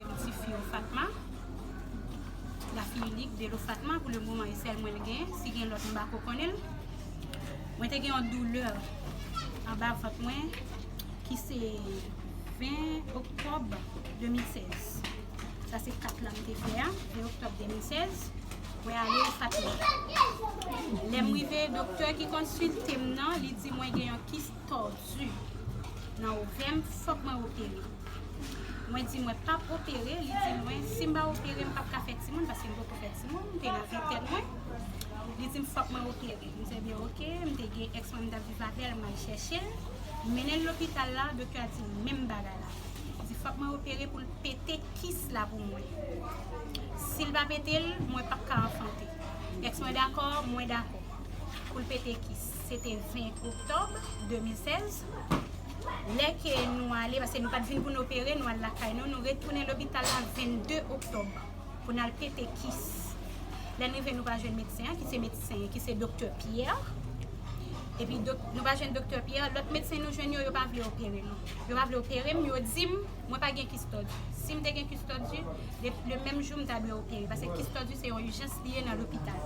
Ti fi yo Fatma La fille unique de l'eau Fatma pou le moman e sèl mwen l gen si gen lòt m pa ko konnen l Mwen te gen yon doulè anba vant mwen ki se 20 oktòb 2016 Sa se 4 lan m te fè a 20 oktòb 2016 Mwen ale Fatma Lè m rive doktè ki konsilte m nan li di mwen gen yon kis tordu nan ovèm fòk mwen opere mwen di mwen pap opere li di mwen si m pa opere m pap ka fè timoun paske m poko fè timoun m te nan ventèn mwen li di m fòk mwen opere m te byen ok m te gen ex mwen m tap viv avèl m al chèche l m mennen l lopital la doktè a di m menm bagay la li di fòk mwen opere pou l pete kis la pou mwen si l pa pete l mwen pap ka anfante ex mwen dakò mwen dakò pou l pete kis Se te 20 oktòb 2016, lè ke nou ale, paske nou pa t vin pou n opere, nou al lakay nou, nou retounen lopital la 22 oktòb pou n al pete kis. Lè n rive nou pa jwenn medsen an, ki se medsen, ki se doktè Pierre, epi nou pa jwenn doktè Pierre, lòt medsen nou jwenn yo, yo pa vle opere nou. Yo pa vle opere m, yo di m, mwen pa gen kis tòdi. Si m te gen kis tòdi, le menm jou m ta dwe opere, paske kis tòdi se yon ijans li ye nan lopital.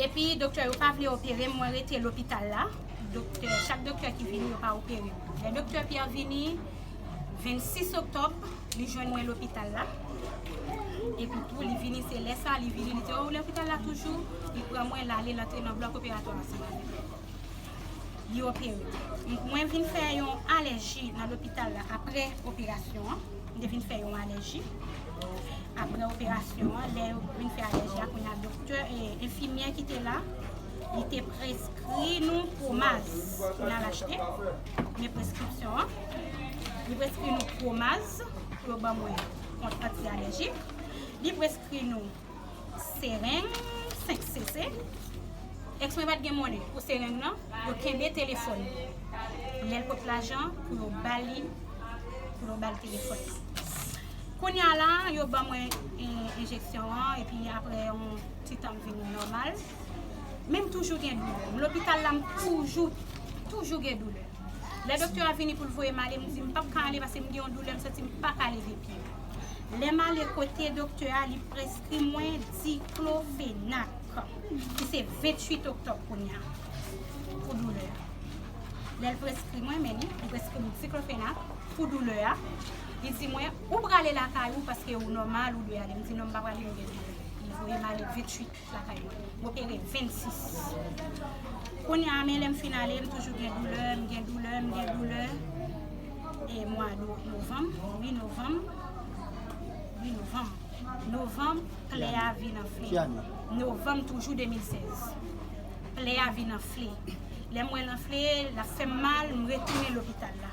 Epi doktè yo pa vle operem mwen rete lopital la doktè chak doktè ki vini yo pa operem lè doktè Pierre vini 26 oktòb li jwenn mwen lopital la epi tou li vini se lè sa li vini li di oh ou lopital la toujou li pran mwen lale lantre nan blòk operatwa ansanm avèm. li opere. Mwen vin fè yon alèji nan lopital la apre operasyon an. Mwen te vin fè yon alèji. Apre operasyon an, lè yo vin fè alèji a, kounye a doktè e enfimyè ki te la, li te preskri nou pwomaz pou n al achte. Men preskripsyon an. Li preskri nou pwomaz pou yo ban mwen kont anti-alèjik. Li preskri nou. Sereng 5 cc Ex mwen pat gen monnen pou sereng nan yo kenbe telefòn li lèl pot lajan pou yo bali pou yo bal telefòn nan kounya la yo ban mwen enjeksyon an epi aprè yon ti tan m vin nòmal men m toujou gen doulè m lopital la m toujou toujou gen doulè lè doktè a vini poul voyem ale m di m pap ka ale paske m gen yon doulè m santi m paka leve pye. Lè m ale kote doktè a, li preskri mwen diklofenak, ki se 28 oktòb kounye a, pou doulè a. Lè l preskri mwen, men li, li preskri m diklofenak pou doulè a. Li di mwen, ou prale lakay ou paske ou nòmal, ou dwe ale. M di non m pa prale m gen doulè. Li voye m ale 28. lakay mwen. M opere 26 kounya a men lè m fin ale m toujou gen doulè, m gen doulè, m gen doulè e mwa novanm, wi novanm wi novanm novanm plè a vin anfle Ki ane? novanm toujou 2016 plè a vin anfle lè m wè l anfle l ap fè m mal m retounen lopital la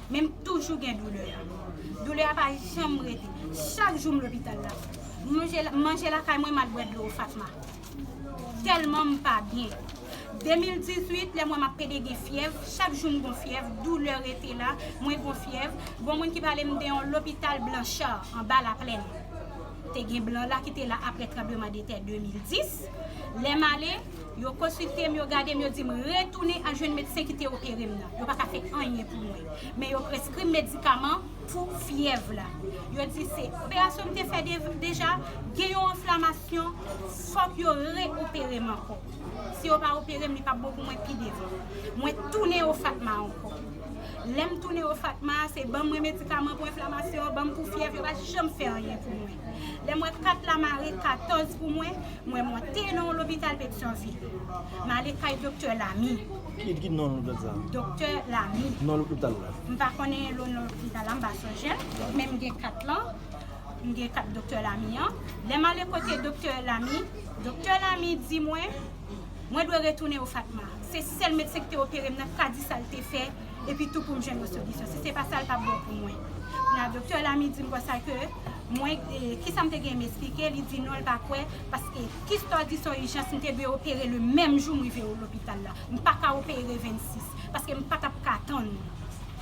men m toujou gen doulè a. Doulè a pa janm rete. Chak jou m lopital la. M manje lakay mwen, m al bwè dlo Fatma. Tèlman m pa byen. 2018, lè m wè m ap pede gen fyèv, chak jou m gon fyèv, doulè rete la, mwen gon fyèv. Bon moun ki pale m de yon lopital Blanchard, anba Laplèn. Te gen blan la ki te la apre tranbleman de tè 2010. Lè m ale. Yo konsilte m, yo gade m, yo di m retounen al jwenn medsen ki te opere m nan. Yo pa ka fè anyen pou mwen. Men yo preskri m medikaman pou fyèv la. Yo di se operasyon m te fè deja, gen yon anflamasyon, fòk yo re-opere m ankò. Si yo pa opere m, li pa p bon pou mwen pi devan. Mwen tounen o FATMA ankò. Lè m tounen o FATMA, se ban mwen medikaman pou enflamasyon, ban m pou fyèv, yo pa janm fè anyen pou mwen. Lè m wè kat la mare 14 pou mwen, mwen monte nan yon lopital Petyonvil. M ale kay doktè Lamy. Ki non lopital sa? Doktè Lamy. Non lopital la? M pa konnen non lopital la, m pa sonje l. Men m gen kat lan, m gen kat doktè Lamy an. Lè m ale kote doktè Lamy, doktè Lamy di mwen, mwen dwe retounen o Fatma. Se sèl medsen ki te opere m nan, k ka di sa l te fè. epi tou pou m jwenn yon solisyon. Si se pa sa, l pap bon pou mwen. Nan doktè Lamy di m konsa ke mwen, kisa m te genyen m esplike, li di non l pa kwè paske kis to a di son ijans m te dwe opere le menm jou m rive o lopital la. M pa ka opere 26 paske m pa t ap ka tann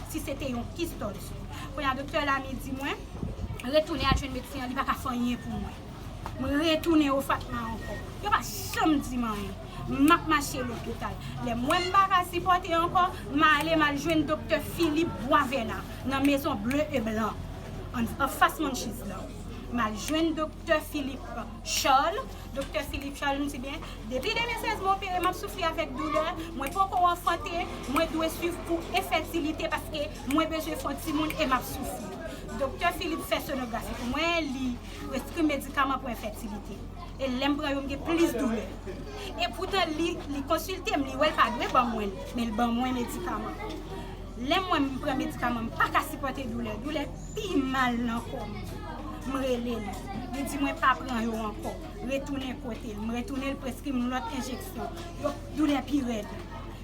si se te yon kis to di. Kounye a doktè Lamy di mwen retounen al jwenn medsen an li pa ka fè anyen pou mwen. M retounen o Fatma ankò. Yo pa janm di m anyen. M ap mache lopital. Lè m wè m pa ka sipòte ankò, m ale m al jwenn doktè Philippe Boisvena nan Maison Bleue et Blanc, anfas Munchies lan. M al jwenn doktè Philippe Charles. Doktè Philippe Charles m di, Byen, depi 2016 m opere, m ap soufri avèk doulè, mwen poko anfante, mwen dwe swiv pou enfètilite paske mwen bezwen fè yon timoun e m ap soufri. Doktè Philippe fè sonografi pou mwen, li. Preskri m medikaman pou enfètilite. E lè m pran yo m gen plis doulè. E poutan li konsilte m, li wè l pa dwe ban mwen l, men l ban mwen medikaman. Lè mwen m pran medikaman m pa ka sipòte doulè, doulè pi mal nan kò m. M rele l, li di mwen pa pran yo ankò, retounen kote l. M retounen l preskri m lòt enjeksyon. Yo doulè pi rèd.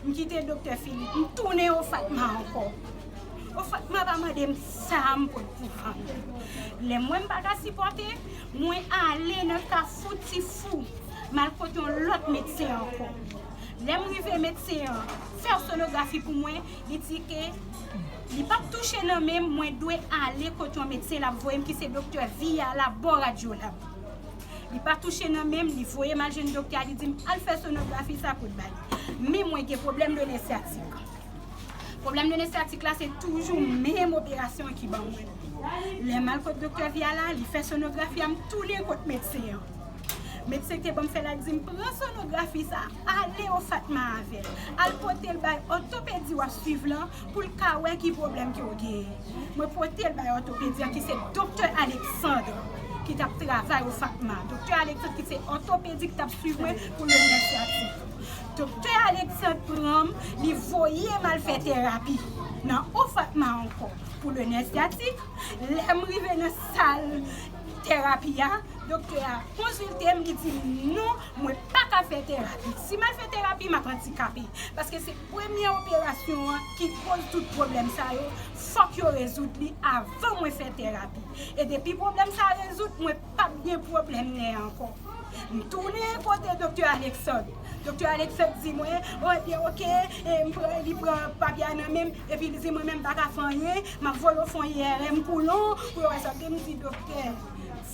M kite doktè Philippe, m tounen o Fatma ankò. O Fatma pa mande m. Sam pot pou fanmi. Lèm wèm paka sipòte, mwen ale nan kafou ti fou, mal kot yon lòt medsen ankò. Lèm rive medsen an fè sonografi pou mwen, li di ke li pap touche nan menm mwen dwe ale kot yon medsen lap voyem ki se doktè Viya la bon radyolab. Li pa touche nan menm, li voyem al jwenn doktè a li dim al fè sonografi sa pot bay. Men mwen gen pwoblèm done syatik. Pwoblèm nene syatik la se toujou menm operasyon an ki ban mwen. Lè m al kot doktè Via la, li fè sonografi a m tounen kot medsen an. Medsen ki te ban m fè la di m pran sonografi sa a ale o Fatma avè l, al pote l bay òtopedi w ap suiv lan pou l ka wè ki pwoblèm ke w genyen. Mwen pote l bay òtopedi an ki se doktè Alexandre ki t ap travay o Fatma. Doktè Alexandre ki se òtopedi ki t ap suiv mwen pou nè syatik. Doktè Alexandre pranm li voyem al fè terapi nan Ofatma ankò pou le nè syatik, lèm rive nan sal terapi a doktè a konziltem li dim non mwen paka fè terapi si mal fè terapi map andikape paske se premye operasyon an ki koz tout pwoblèm sa yo fòk yo rezoud li avan mwen fè terapi e depi pwoblèm sa rezoud mwen pap gen pwoblèm nè ankò. M tounen kote Doktè Alexandre. Doktè Alexandre di mwen, o ebyen ok, li pran papye a nan men m, epi li di mwen menm m pa ka fè anyen, m ap voye w fè yon IRM koulon pou yo wè sa. M di doktè,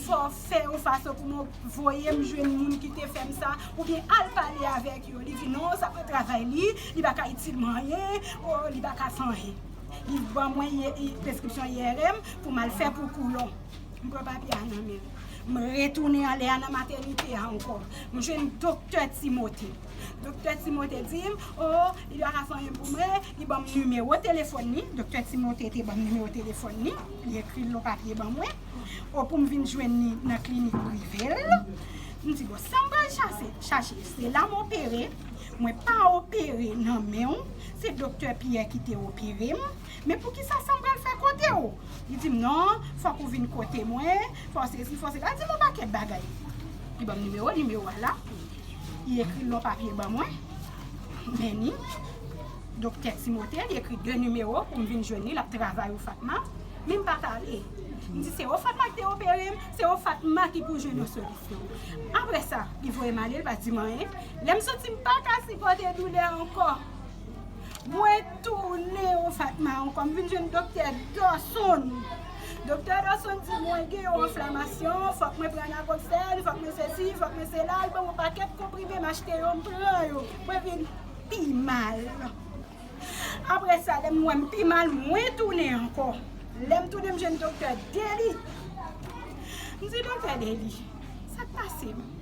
fò w fè yon fason pou mwen voye m jwenn moun ki te fè m sa, oubyen al pale avèk yo. Li di non, sa pa travay li, li pa ka itil m anyen, o li pa ka fè anyen. Li ban mwen preskripsyon IRM pou m al fè pou koulon. M pran papye a nan men m. M retounen ale a nan matènite a ankò. M jwenn doktè Timote. Doktè Timote di m, o, li pa ka fè anyen pou mwen, li ban m nimewo telefòn li. Doktè Timote te ban m nimewo telefòn li. Li ekri l nan papye ban mwen. O, pou m vin jwenn li nan klinik prive l. M di, bon, sa m pral chache? Se la m opere. Mwen pa opere nan men w. Se doktè Pyè ki te opere m. Men poukisa sa m pral fè kote w? Li di m, Non, fòk ou vin kote mwen, fòk sesi, fòk sela. Li di m yon pakèt bagay. Li ban m nimewo l, nimewo a la. Li ekri l nan yon papye ban mwen. Meni, Doktè Timote, li ekri de nimewo pou m vin jwenn li, l ap travay Ofatma. Men m pa t ale. M di, Se Ofatma ki te opere m, se Ofatma ki pou jwenn yon solisyon. Apre sa, li voye m ale, li pa di m anyen. Lè m soti, m pa ka sipòte doulè a ankò. Mwen. Toune yon sak mawon kòm vin jwenn doktè Dawson. Doktè Dawson di mwen gen yon anflamasyon, fòk mwen pran naproxen, fòk mwen sesi, fòk mwen sela, li ban mwen yon pakèt konprime, m achte yo, m pran yo, mwen vin pi mal. Aprè sa lè m wè m pi mal, mwen tounen ankò. Lè m tounen m jwenn doktè Dely. M di doktè Dely, sa k pase m?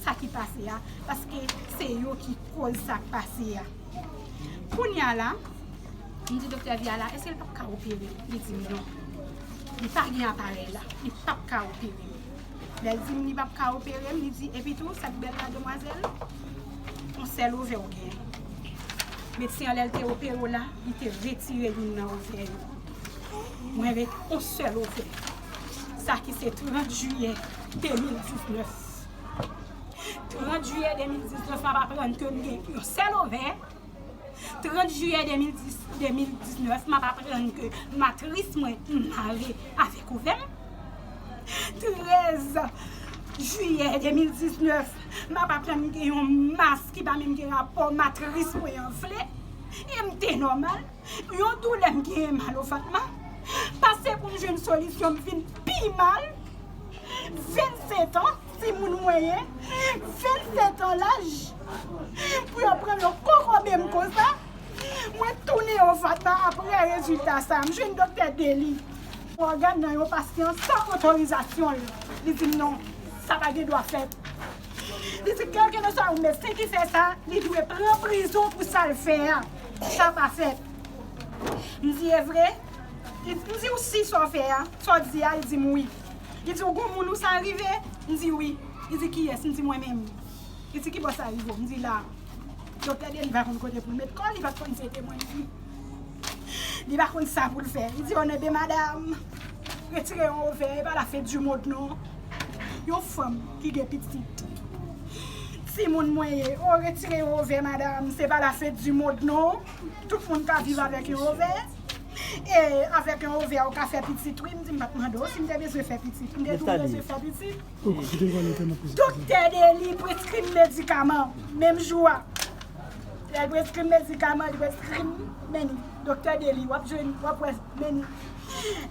sa ki pase a paske se yo ki koz sa k pase a kounya la m di doktè Via la èske l pap ka opere m li di m non li pa gen aparèy la li pap ka opere m lè l di m li pap ka opere m li di epitou sa k bèl la demwazèl on sèl ovè w gen medsen an lè l te opere w la li te retire youn nan ovè yo mwen ret on sèl ovè sa ki se 30 jiyè 2019. 30 jiyè 2019 m ap aprann ke m gen yon sèl ovè, 30 jiyè 2019 m ap aprann ke matris mwen mare avèk ovè m, 13 jiyè 2019 m ap aprann m gen yon mas ki pa menm gen rapò matris mwen an vle, e m te nòmal. Yon doulè m genyen mal o Fatma pase pou m jwenn solisyon m vin pi mal 27 ans timoun mwen ye 27 ans laj pou yo pran yo kokobe m konsa mwen tounen o Fatma aprè rezilta sa m jwenn doktè deli ògàn nan yon pasyan san otorizasyon l li di m non sa pa gen dwa fèt li di kèlkeleswa yon medsen ki fè sa li dwe pran prizon pou sa l fè a. Sa pa fèt. M di, E vre? M di, Ou si sa w fè a, sa w di a? Li di m, Wi. Li di, Ou gon moun ou sa rive? M di, Wi. Li di, Kiyès? M di, Mwen menm. Li di, Ki bò sa rive w? M di, La a. Doktè Denis pa konn kote pou l met kò l, li pa t konn tete mwen. Li pa konn sa pou l fè. Li di, Onè de madam, retire yon ovè, e pa lafendimonn non. Yon fanm ki gen pitit. Ti moun mwen ye. Oh retire yon ovè madam. Se pa la fête du monde non. Tout moun ka viv avèk yon ovè. E avèk yon ovè ou ka fè pitit wi. M di m pat mande w si m te bezwen fè pitit. M te tou bezwen fè pitit. Doktè Deni preskri m medikaman. Menm jou a. Lè l preskri m medikaman, li preskri m meni. Doktè Deni wap jwenn, wap wè meni.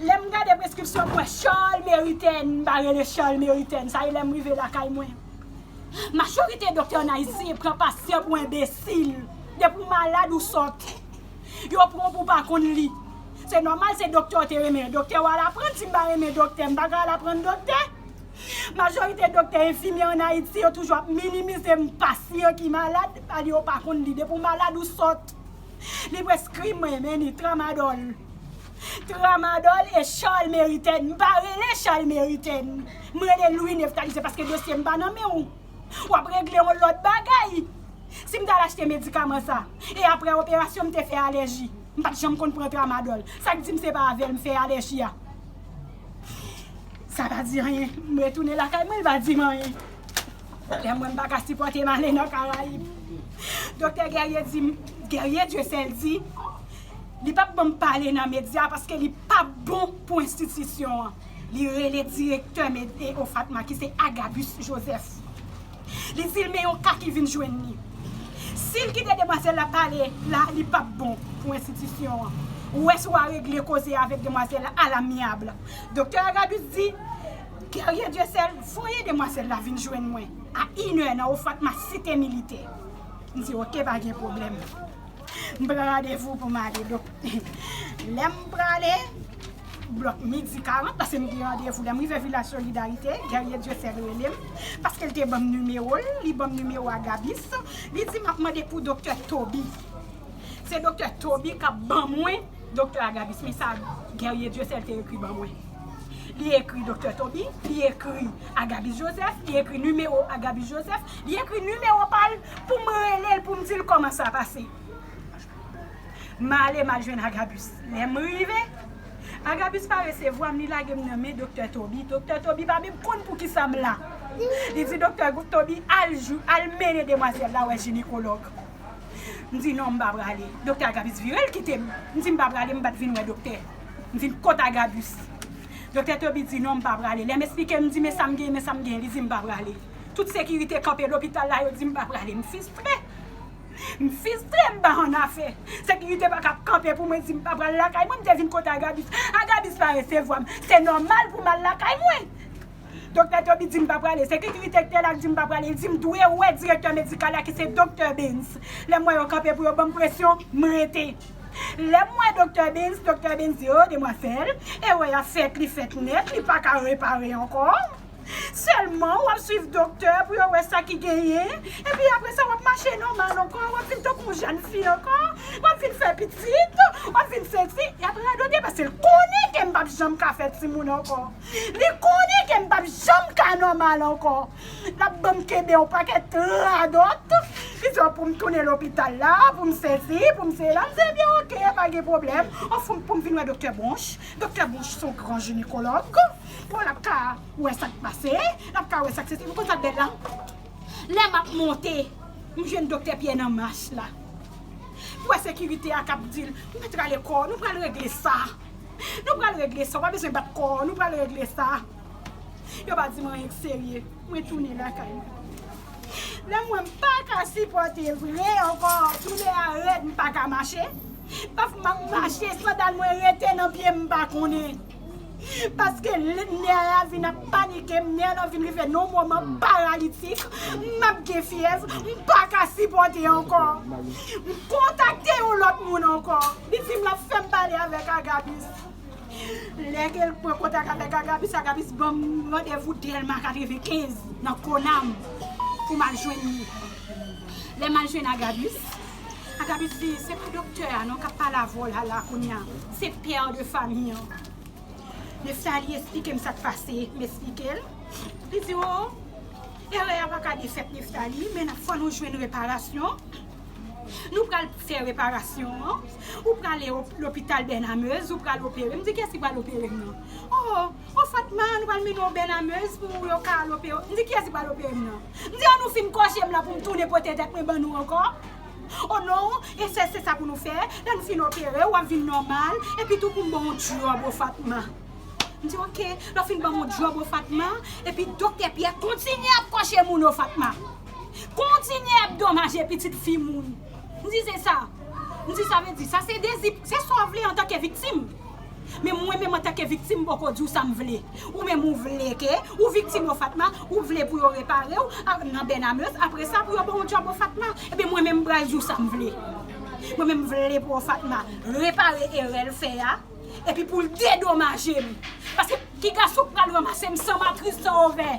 Lèm gade preskripsyon m wè Charles Meriten m pa rele Charles Meriten sa e lèm rive lakay mwen Majorite doktè an Ayiti pran pasyan pou enbesil depi w malad ou sòt yo pran w pou w pa konn li se nòmal se doktè w te renmen doktè wal aprann si m pa renmen doktè m pa ka al aprann doktè Majorite doktè enfimyè an Ayiti yo toujou ap minimize m pasyan ki malad ale yo pa konn li depi w malad ou sòt. Li preskri mwen men ni tramadol Tramadol e charles meriten M pa rele charles meriten M rele louis nephtalise paske dosye m pa nan men w W ap regle yon lot bagay Si m t al achte medikaman sa E apre operasyon m te fè alèji M pa t janm konn pran tramadol Sa k di m se pa avè l m fè alèji a Sa pa di anyen M retounen lakay mwen l pa di m anyen Lè mwen m pa ka sipòte m ale nan karayib Doktè Guerrier di m Guerrier Dieuseul di Li pap banm pale nan medya paske li pa bon pou enstitisyon an Li rele direktè mete OFATMA ki se Agabus Joseph Li di l men yon ka ki vin jwenn li Si l kite demwazèl la pale la li pap bon pou enstitisyon an Ou wè si w a regle koze a avèk demwazèl la alamyabl Doktè Agabus di Guerrier Dieusel voye demwazèl la vin jwenn mwen a inè nan Ofrat ma site militè. M di ok pa gen pwoblèm. M pran randevou pou m ale donk lè m prale blòk midi 40 paske m gen randevou lè m rive Vilaj Solidarite Guerrier Dieusel rele m paske l te ban m nimewo l li ban m nimewo a Gabis li di m ap mande pou Doktè Toby se Doktè Toby k ap ban mwen Doktè Agabis, men sa Guerrier Dieuseul te ekri ban mwen. Li ekri Doktè Toby, li ekri Agabis Joseph, li ekri nimewo Agabis Joseph, li ekri nimewo pa l pou m rele l pou m di l kòman sa pase. M ale m al jwenn Agabis. Lè m rive, Agabis pa resevwa m, li lage m nan men Doktè Toby. Doktè Toby pa menm konn pou ki sa m la. Li di Doktè Toby al mennen demwazèl la wè jinekològ. M di non m pa prale. Doktè Agabus vire l kite m. M di m pa prale m pa t vin wè doktè. M vin kot Agabus. Doktè Toby di non m pa prale. Lè m esplike m di men sa m genyen men sa m genyen li di m pa prale. Tout sekirite kanpe lopital la yo di m pa prale. M fistre. M fistre m pa annafè. Sekirite pa ka ap kanpe pou mwen di m pa pral lakay mwen. M te vin kot Agabus. Agabus pa resevwa m. Se nòmal pou m al lakay mwen. Doktè Toby di m pa prale. Sekikirite ki te la ki di m pa prale. Li di m dwe wè direktè medikal la ki se doktè Bens. Lè m wè yo kanpe pou yo ban m presyon, m rete. Lè m wè doktè Bens, doktè Bens di, O, demwazèl, erè a fèt, li fèt nèt, li pa ka repare ankò. Sèlman, w ap swiv doktè pou yo wè sa ki genyen. Epi apre sa, w ap mache nòmal ankò, w ap vin tankou yon jèn fi ankò, w ap vin fè pitit, w ap vin seksi. Y ap radote paske l konnen ke m p ap janm ka fè timoun ankò. Li konnen ke m pap janm ka nòmal ankò. L ap ban m kenbe yon pakèt radòt ki di pou m tounen lopital la, pou m sesi, pou m sela. M di ebyen oke, pa gen pwoblèm. Anfòm pou m vin wè doktè Bronch. Doktè Bronch se yon gran jinekològ. Bon, l ap ka wè sa k pase, l ap ka wè sa k sesi. Ou konn sa k bèl la? Lè m ap monte, m jwenn doktè Pyè nan mach la. Pwè sekirite a k ap di l, nou pral regle sa. Nou pral regle sa, ou pa bezwen bat kò w, nou pral regle sa. Yo pa di m anyen ki serye, mwen tounen lakay mwen. Lè m wè m pa ka sipòte vre ankò, doulè a rèd m pa ka mache. Paf m ap mache, sandal mwen rete nan pye m, m pa konnen. Paske nè a vin ap panike m, nè lan vin rive nan yon moman paralitik, m ap gen fyèv, m pa ka sipòte ankò. M kontakte yon lòt moun ankò. Li dim lap fèm pale avèk Agabis. Lè ke l pran kontak avèk Agabis, Agabis banm randevou Dèlma 95 nan Konam pou m al jwenn li. Lè m al jwenn Agabis, Agabis di se pa doktè a non kap pale avè w la la kounye a, se pè de fami an. Nephtalie esplike m sak pase, m esplike l. Li di o, erè a paka defèt Nephtalie, men fò nou jwenn reparasyon. Nou pral fè reparasyon an, ou prale lopital Bènamez, ou pral opere. M di kiyès ki pral opere m nan? O, o Fatma, nou pral mennen w Bènamez pou yo ka al opere w. M di kiyès ki pral opere m nan? M di an nou fin kòche m lan pou m tounen pote tèt mwen ban nou ankò? O non, e sè se sa pou nou fè, lè nou fin opere w, w ap vin nòmal, epi tou pou m ban w djòb o Fatma. M di ok, lè w fin ban m yon djòb o Fatma, epi Doktè Pyè kontinye ap kòche moun o Fatma. Kontinye ap domaje pitit fi moun. M di se sa. M di sa vle di. Sa se dezi. Se sa w vle antanke viktim. Men mwen menm antanke viktim m poko di w sa m vle. Ou menm ou vle ke ou viktim o Fatma, ou vle pou yo repare w nan Bènameus, apre sa pou yo ban w djòb o Fatma. Ebyen mwen menm m pral di w sa m vle. Mwen menm m vle pou o Fatma repare erè l fè a. Epi pou l dedomaje m. Paske ki gason k pral ranmase m san matris, san ovè?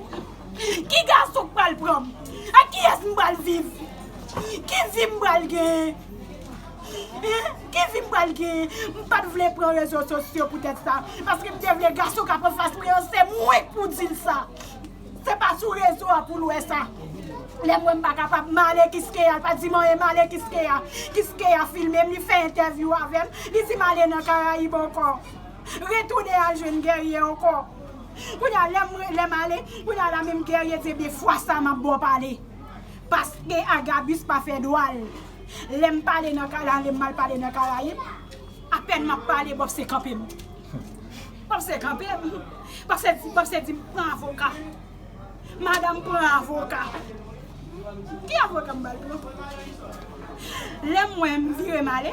Ki gason k pral pran m? Ak kiyès m pral viv? Ki vi m pral genyen? Ki vi m pral genyen? M pa t vle pran rezo sosyo poutèt sa. Paske m te vle gason k ap anfas mwen an se mwen k pou di l sa. Se pa sou rezo a poul wè sa. Lè m wè m pa kapab m ale kiskeya l pa di m anyen m ale kiskeya kiskeya filme m li fè entèvyou avè m li di m ale nan karayib ankò retounen al jwenn gèrye ankò kounye a lè m lè m ale kounye a la menm gèrye di ebyen fwa sa m ap ba w pale paske agabus pa fè dwa l lè m pale nan karayib apèn m ap pale bòf se kanpe m. Pase kanpe wi. Pase di pran avoka. Madam pran avoka. Ki avoka m bal pran? Lè m wè m vire m ale.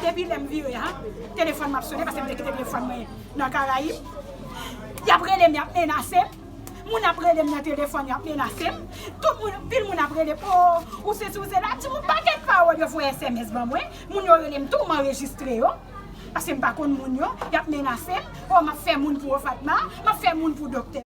Depi lè m vire a, telefòn m ap sone pase m te kite telefòn mwen nan Karayib. Y ap rele m y ap menase m. Moun ap rele m nan telefòn y ap menase m. Tout moun, anpil moun ap rele m. O, ou sesi ou sela. Ti moun pakèt pawòl yo voye sms ban mwen. Moun yo rele m tou m anrejistre yo. Paske m pa konn moun yo, y ap menase m. O, m ap fè moun pou Ofatma, m ap fè moun pou doktè.